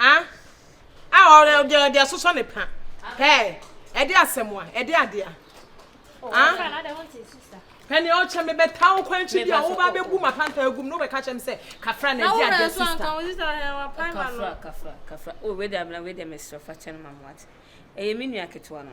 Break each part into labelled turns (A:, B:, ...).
A: Ah, ah, ɔde ɔde ɔde asosɔ ne pa. Pɛɛ, ɛde asɛm a, ɛde adeɛ a. Ah,
B: pɛni ɔkyɛ me
A: bɛta wo kwan kyi bi a wo ba bɛ bu ma panta agum no bɛ ka kyɛ me sɛ kafra na ɛde adeɛ sista. Kafra,
C: kafra, kafra. O wei de abena wei de mesrɛ fa kyɛ no ma mo ate. Ɛyɛ me nua ketewa no.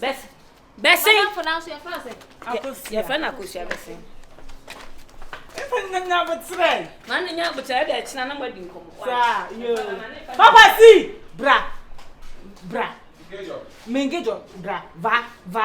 C: bɛs bɛsen
B: yɛfrɛ no akosua
C: bɛsen
A: Nanya botrɛ. Maa ne nya botrɛ
C: ɛdɛ ɛkyina na mo adi nkɔmɔ. Saa yoo.
A: Papa si bra bra. Mengejɔ bra va va.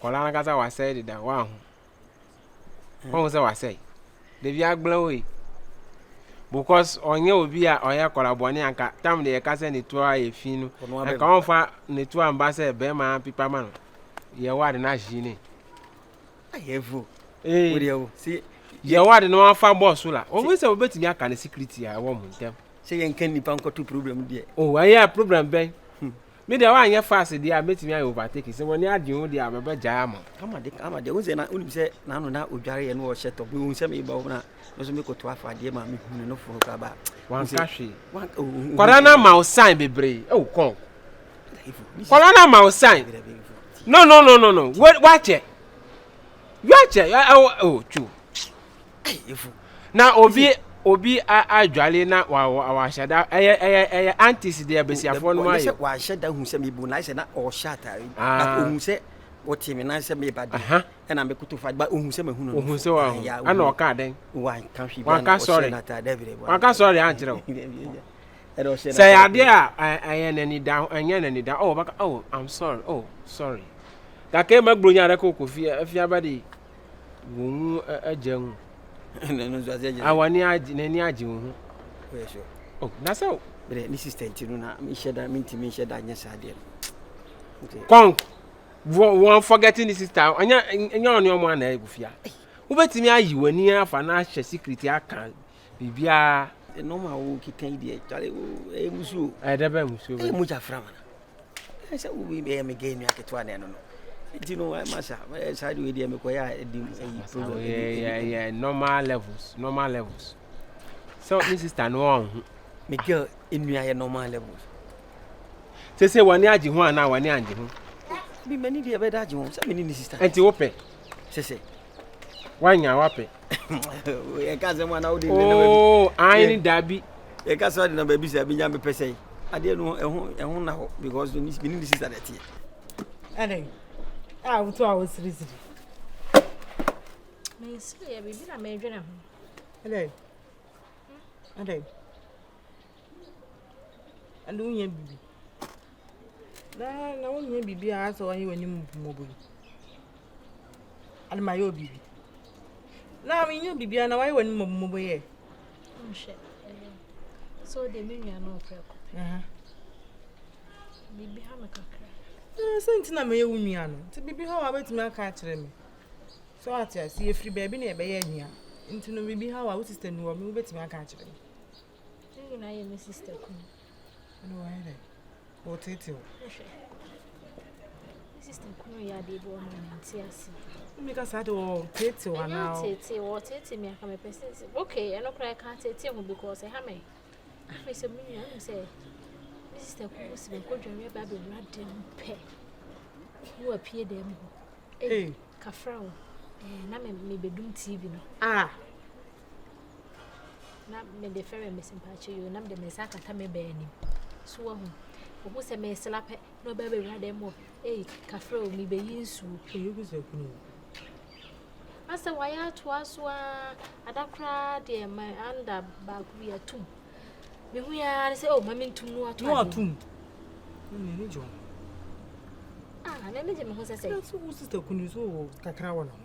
D: kɔla no kasa wasɛe deda woaho wahu sɛ wasɛe dabi agbla wo yi because ɔnyɛ obi a ɔyɛ kɔla bɔne anka tam de yɛka sɛ ne tuo a yɛ fi no ɛka ɔmfa ne tuo amba sɛ bɛrima pipa ma no yɛwɔ ade no
E: ahye
D: ne yɛwɔ ade na wɔafa bɔɔ so la wɔn sɛ wɔbɛtumi aka ne security a ɛwɔ mo ntɛm sɛ yɛnka nnipa nkɔto
E: problem deɛ o oh, ɛyɛ problem
D: bɛn hmm. me deɛ woanyɛ fast deɛ a mɛtumi ayɛ overtake sɛ wɔne adwen wo deɛ a mɛbɛgyaa mo amadeɛ wo sɛ na
E: wonim sɛ naano na ɔdwareɛ no ɔhyɛ tɔ mehu sɛ meba wo no a no so mekɔto afa adeɛ ma mehunu no fono kaba wanka hwee
D: oh, oh, kwara no ama wo san bebree ɛwo kɔn Kɔla na ma o sign. No no no no no. Wait, watch it. Watch it. I, I, oh, true. Na obi obi adwale na wa wa wa hyɛ da. Ɛyɛ ɛyɛ ɛyɛ aunties deɛ besiafoɔ no ayɛ. Wa hyɛ da hu sɛ mi
E: bu na sɛ na ɔhyɛ ataare. Na ohun sɛ wɔte mi nan sɛ mi ba de. Ɛna mi koto fa ba ohun sɛ ma hu no. Ohun sɛ wa hu. Ɛna
D: ɔka adan. Wa nka hwi bi na
E: ɔhyɛ na ataare dɛ
D: bi dɛ. Wa nka
E: sɔre ankyerɛ o.
D: Sɛ ɛyɛ adeɛ a ɛyɛ n'anida ɛnyɛ n'anida oh ɔbɛka oh I'm sorry oh sorry kaka ema gburo nya adaka okɔ fie afi abɛde wɔn mu agya mu awani
E: agye n'ani
D: agye wɔn ho oh na sɛ o. bɛrɛ ne sista nti
E: no na mi nhyɛ da mi nti mi nhyɛ da nyɛ saa deɛ no.
D: kɔn wɔn forgetting ne sista ɔnyɛ nyɛ ɔne ɔmo ana ɛgu fia wobɛtumi ayi w'ani afa na ahyɛ sikiriti aka Biribiara. Nnoɔma a
E: wokeka yi deɛ kyale ɛyɛ musuo. Ɛyɛ dɛ bɛn musuo bɛ. Ɛyɛ
D: mogya fira mana.
E: Ɛyɛ sɛ wo bɛ yɛ me gay nua ketewa na ɛno no. Nti no ɛma sa ɛyɛ saa deɛ deɛ mekɔyɛ a ɛdi ɛyi problem. Ɛyɛ ɛyɛ
D: normal levels normal levels. So ne sister no wɔn ho. Me girl
E: nua yɛ normal levels.
D: Sese wɔne agye ho anaa wɔne angye ho. Bi mani deɛ
E: bɛda agye ho sɛ mene ne sister. Ɛnti wopɛ.
D: Sese.
E: Wanya
D: wapɛ. Yɛ
E: ka sɛ mo ana wode ne na baby. Oh, I ne
D: dabi. Yɛ ka sɛ wode na
E: baby sɛ bi nya me pɛ sɛ. Adeɛ no ɛho ɛho na hɔ because me ni ni sister na ɛteɛ. Ɛne.
A: Ah, wutu a wosiri siri.
B: Me sɛ yɛ
A: bibi na me dwene ho. Ɛne. Ɛne. Ɛne unya bibi. Daa na wonhia biribiara sɛ wɔayɛ w'anim mmɔbɔ yi. Ade ma yɛ wɔ biribi. Na menhia biribiara na wɔayɛ w'anim mmɔbɔ yɛ. Nhwɛ ɛnɛ. So de me nua
B: no ɔpɛ ko. Aha. Biribi ha me kakra. Eh, sɛ nti na
A: meyɛ wo nua no. Nti biribi ha wa betumi aka akyerɛ me. So ate ase efiri baabi na ɛbɛyɛ nua. Nti no biribi ha wa wo sister ni wɔ me wo betumi aka akyerɛ me. Ne nyinaa
B: yɛ me sister kunu. Ɛna wayɛ
A: dɛ ɔretetew. Ɛhwɛ.
B: Sista kunu yɛ adeɛ bi ɔma me nte ase. Mmeka saa de
A: ɔretetew anaa? Ɛnyɛ ɔretetew ɔretetew mi aka
B: mepɛ sɛ sɛ okay ɛno koraa ɛka tetew ho because ɛha mɛ. Afei sɛ me nua nim sɛ me sista kunu si me nkɔdware aba abɛwura dɛm pɛ. Ne wapie dɛm hɔ. Ee kafra o. Ɛɛ na me mebɛdum TV no. Ah. na mede fɛrɛ me se mpakyɛ yoo na mede me nsa akata me bɛɛ anim so wahu ohu sɛ mesela pɛ na ɔbɛ bɛwura dɛm mu ei kafrɛ o mebɛyi nsuo asɛ wayɛ atoa so a ada koraa deɛ ma anda baako bi atom mehu yɛa ne sɛ o oh, ma mentom no ato atom n'ani
A: gye ho
B: ah n'ani gye me ho sɛ sɛ wo sista kunu
A: so wɔ kakra wɔ no ho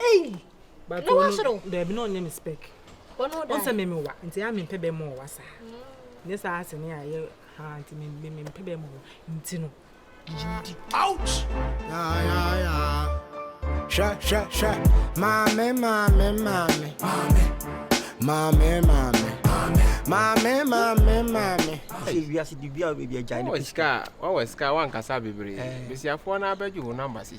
A: Ei! But no wasoro.
B: Dabi no onyɛ me spec.
A: Ono da. Onse me
B: me wa. Nti a me
A: mpe be mo wa sa. Mm. Nye sa ase ne aye ha nti me me me mpe be mo. Nti no. Jindi. Ouch.
F: Ya ya ya. Sha sha sha. Mame mame mame. Mame. Mame mame.
E: Mame mame mame. Hey, we are sidi bia we be jai. Wa sika, wa wa sika,
D: wa nkasa bebre. Besiafo na abegye wo number si.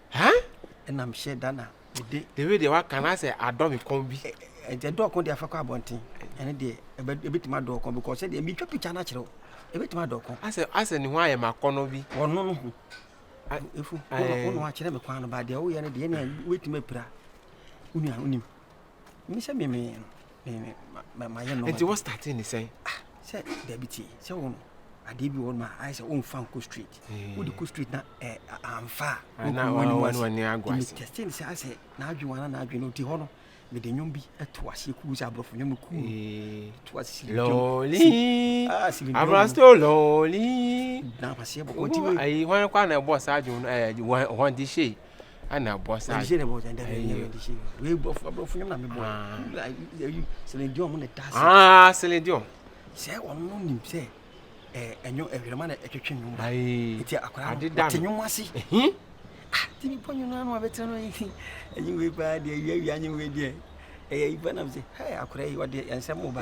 D: Hɛn? Nna
E: mehyɛ da na mede. Dawid deɛ waka
D: no asɛ adɔ me kɔn bi. Ɛgya dɔ ɔko
E: deɛ afɛ kɔ abɔnten. Ɛne deɛ ɛbɛtumi adɔ ɔko because sɛdeɛ metwa picture no akyerɛ wo. Ɛbɛtumi adɔ ɔko. Asɛ asɛ ne ho ayɛ
D: ma akɔnɔ bi. Ɔno no ho.
E: Efu wo na wakyerɛ me kwan no ba deɛ woyɛ no deɛ ɛne wobɛtumi apira. Wo nua wonim. Mehyɛ memee no. mayɛ nɔma. Nti wɔ starte ne sɛn?
D: Ah, sɛ dabi
E: tie sɛ wo no adeɛ bi wɔ no ma ayɛ sɛ womfa nkɔ street wode kɔ street na amfa a
D: metɛste ne sɛ asɛ
E: naadwe wana naadwe no ɔti hɔ no mede nnwom bi to aseɛ kuu sɛ aborɔfo nnwom no kuu to ase
D: silidwomnapaseɛ bɔbɔnti hwan kɔ a na ɛbɔɔ saa dwom no hɔnde hyei ɛna ɛbɔ saa. ɛdi sɛ ɛbɔ saa ɛdi sɛ ɛdi sɛ wei brɔfo brɔfo ne na mi bɔ ɛyi Celine Dion mo na ɛda ase. aa Celine Dion.
E: sɛ wɔn mo nim sɛ ɛɛ ɛnyo ɛhwɛrɛma na ɛtwitwi nwom ba eti akwadaa no wɔte nwom ase. ah ti mi pɔ nyina no abɛtena no yi ɛnyi wei paa deɛ wia wia anyi wei deɛ ɛyɛ ipa nam sɛ hɛ akwadaa yi wɔde ɛnsɛm mo ba.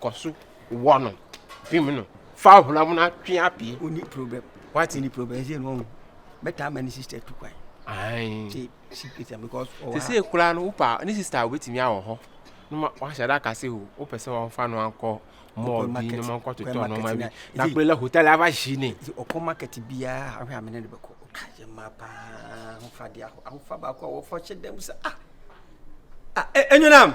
D: kɔ so wɔ no fim no fa honam no atwe apue. o ní problem wati ní problem ẹ ṣe ni ọhún bẹta ama ní sista tu kwan. ṣe ṣe pèsè because ọwọ ha. sese kura no wopa ní sista obetumi awɔ hɔ na ma wahyɛ dɛ akase o wopɛ sɛ wɔn fa no ankɔ mɔɔ bi na wɔn kɔ totɔ nneɛma bi na kura la hotel ava hyi ni. ɔkɔ market biara ahwɛ amene ne bɛkɔ ɔka yɛ mma paa ahofa de aho ahofa baako a wɔfɔ hyɛ dɛm sɛ ah ah ɛnyɛ nam.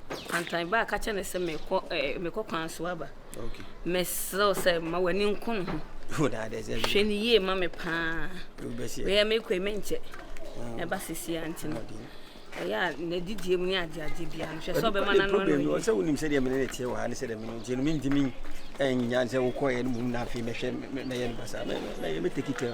D: Antae baa ka kyerɛɛ no sɛ mekɔ ɛɛ eh, mekɔ kwan so aba. Okay. Mesrɛw sɛ ma w'ani nko ne ho. Hwɛ ne yie ma me paa. Meyɛ mekɔ yi menkyɛ. Ah. Ɛba sisi a nti no. Ɛyɛ a na didie mu ne ade ade bia no hwɛ sɛ ɔbɛma no ano no. Sɛ wonim sɛdeɛ mene ne teɛ wɔ ha ne sɛdeɛ mene nti no mentimi ɛnyinya sɛ wokɔɛ no mum na afei mɛhwɛ mɛyɛ no basa mɛtɛki tɛ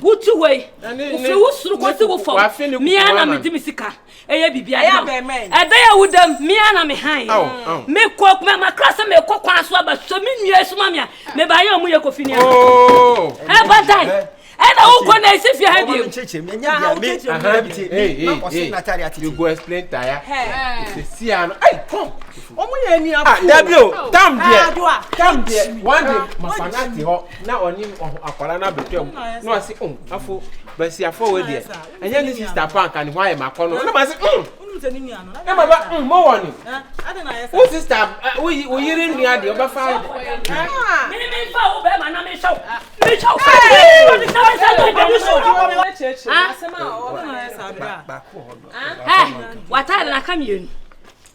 C: Wotu hɔ yi, wofiri wo soro kɔsi wo fam, mmea na medi me sika. Ɛyɛ biribi ade ma ɛbɛyɛ a woda mu, mmea na me han. Mekɔ makra sɛ mekɔ kwan so aba sɛ me nua suma me a meba ayɛ ɔmo yɛ kofi nneɛma. Oh. Ɛba dan ɛna wokɔ na ɛsi fie ha bio. You go explain tire. Sisi ano.
D: Hey, come. Ɔmo yɛ ni afo. Dabi o, tam deɛ. Tam deɛ, one day, mafana ti hɔ. na ɔne akwadaa no abɛtwa mu na wase um afo basiafoɔ wɔ deɛ ɛnyɛ ne sista pa anka ne ho ayɛ makɔ no na mase um na baba um mɔwɔ ne wo sista wo yere nnua deɛ ɔbɛfa ayɛ mememfa wo bɛma na mehyɛ wo mehyɛ wo
C: wataade naka mmienu